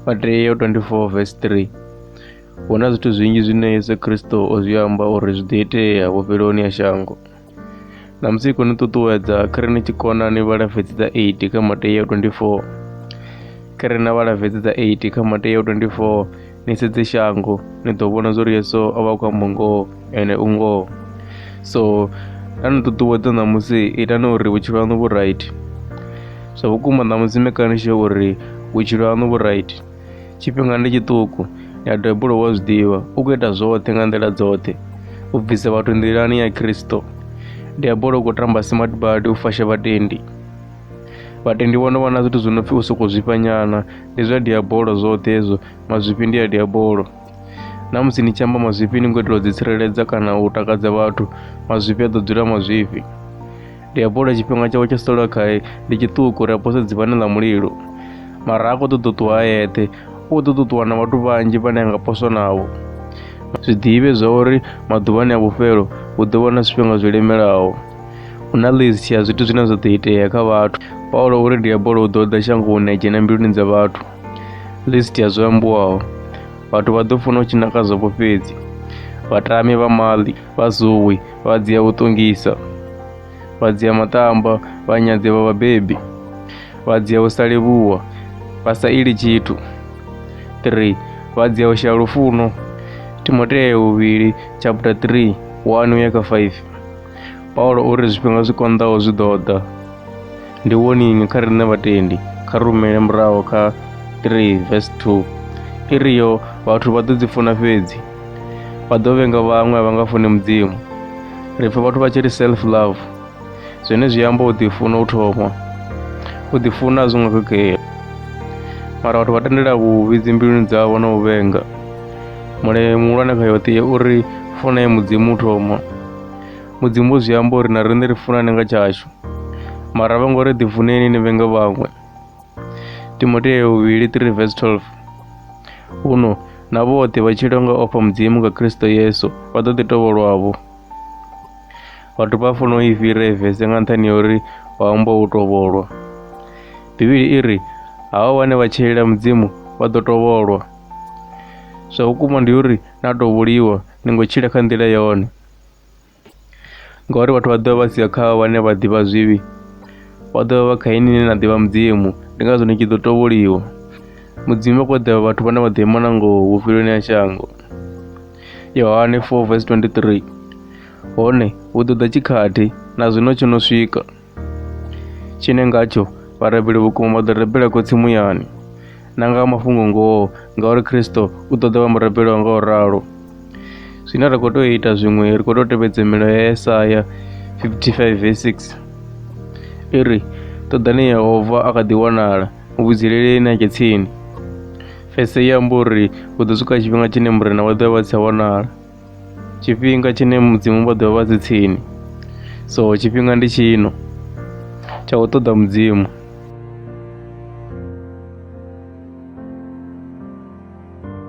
Mateo 24 verse 3 huna zwithu zwinzhi zwine yesu kristo o zwi amba uri zwi ḓo itea vhufheloni ha shango na musi khou ni ṱuṱuwedza khare ni tshi kona ni vhala vhedzi dza 8 kha mateo 24 khare na vhala vhedzi dza 8 kha mateo 24 ni sedze shango ni ḓo vhona zwo ri yesu o vha khou amba ngoho ene u ngoho so nda ni ṱuṱuwedza ṋamusi itani uri vhutshilo haṋu vhu right zwa vhukuma ṋamusi mekanishe uri vhutshilo haṋu vhu right tshifhinga ndi tshiṱuku ya debulo wa zwi ḓivha u khou ita zwoṱhe nga nḓila dzoṱhe u bvisa vhathu nḓilani ya khristo diabolo u khou tamba smart badi u fasha vhatendi but ndi vhona vhona zwithu zwi no pfhi u sokou zwifha nyana ndi zwa diabolo zwoṱhe hezwo mazwifhi ndi a diabolo na musi ni tshi amba mazwifhi ni ngo itela u ḓitsireledza kana u takadza vhathu mazwifhi a ḓo dzula mazwifhi diabolo tshifhinga tshawe tsha sala khae ndi tshiṱuku ri apose dzivhane ḽa mulilo mara a khou ṱoḓa u ṱuwa a yeṱhe u ḓo ṱuṱuwa na vhathu vhanzhi vhane a nga poswa navho zwiḓivhe zwa uri maḓuvhani a vhufhelo hu ḓo vha na zwifhinga zwo lemelaho hu na list ya zwithu zwine zwa ḓo itea kha vhathu paulo uri diabolo u ḓo ḓa shangoni a dzhena mbiluni dza vhathu list ya zwo ambiwaho vhathu vha ḓo funa u tshina kha zwopo fhedzi vhatami vha maḽi vha zuwi vha dzia u ṱongisa vha dzia matamba vha nyadze vha vhabebi vha dzia u sa livhuwa vha sa ili tshithu 3 vha dzia u shaya lufuno timoteo 2 chapter 3 1 uya kha 5 Paulo uri zwifhinga zwi konḓaho zwi ḓo ḓa. Ndi woningi kha riṋe vhatendi kha rumele muraho kha 3 verse 2 i ri yo vhathu vha ḓo dzi funa fhedzi vha ḓo vhenga vhaṅwe a vha nga funi mudzimu ri pfha vhathu vha tshi ri self love zwine zwi amba u ḓifuna u thoma u ḓifuna a zwi ngo khakhea mara vhathu vha tendela vhuvhi dzimbiluni dzavho na u vhenga mulayo muhulwane kha yoṱhe uri funa ye mudzimu u thoma mudzimu zwi amba uri na riṋe ri funane nga tshashu mara vha ngo ri ḓifuneni ni vhenge vhaṅwe timoteo vhuvhili 3 vs 12 huno na vhoṱhe vha tshila nga ofha mudzimu nga kristo yesu vha ḓo ḓi tovholwavho vhathu vha funa u i fhira evese nga nṱhani ya uri vha amba u tovholwa bivhili i ri havha vhane vha tshilela mudzimu vha ḓo tovholwa zwa vhukuma ndi uri na tovholiwa ni ngo tshila kha nḓila yone ngauri vhathu vha ḓovha vha sia kha vhane vha ḓivha zwivhi vha ḓovha vha kha ini ine na ḓivha mudzimu ndi ngazwo ni tshi ḓo tovholiwa mudzimu vha khou ḓivha vhathu vhane vha ḓo ima na ngoho vhufhiloni ha shango yohane 4 vs 23 hone hu ḓo ḓa tshikhathi na zwino tsho no swika tshine ngatsho vharabeli vhukuma vha ḓo rabela khotsi muyani na nga mafhungo ngoho ngauri kristo u ḓo ḓa vha murabeli wa nga u ralo zwine ra khou tea u ita zwiṅwe ri khou tea u tevhedza milayo ya esaya 55 ve 6 i ri ṱoḓani yehova a kha ḓi wanala muvhidzeleleni a tshe tsini fese i amba uri hu ḓo swika tshifhinga tshine murena wa ḓo vha si tsha wanala tshifhinga tshine mudzimu vha ḓovha vha dzi tsini so tshifhinga ndi tshino tsha u ṱoḓa mudzimu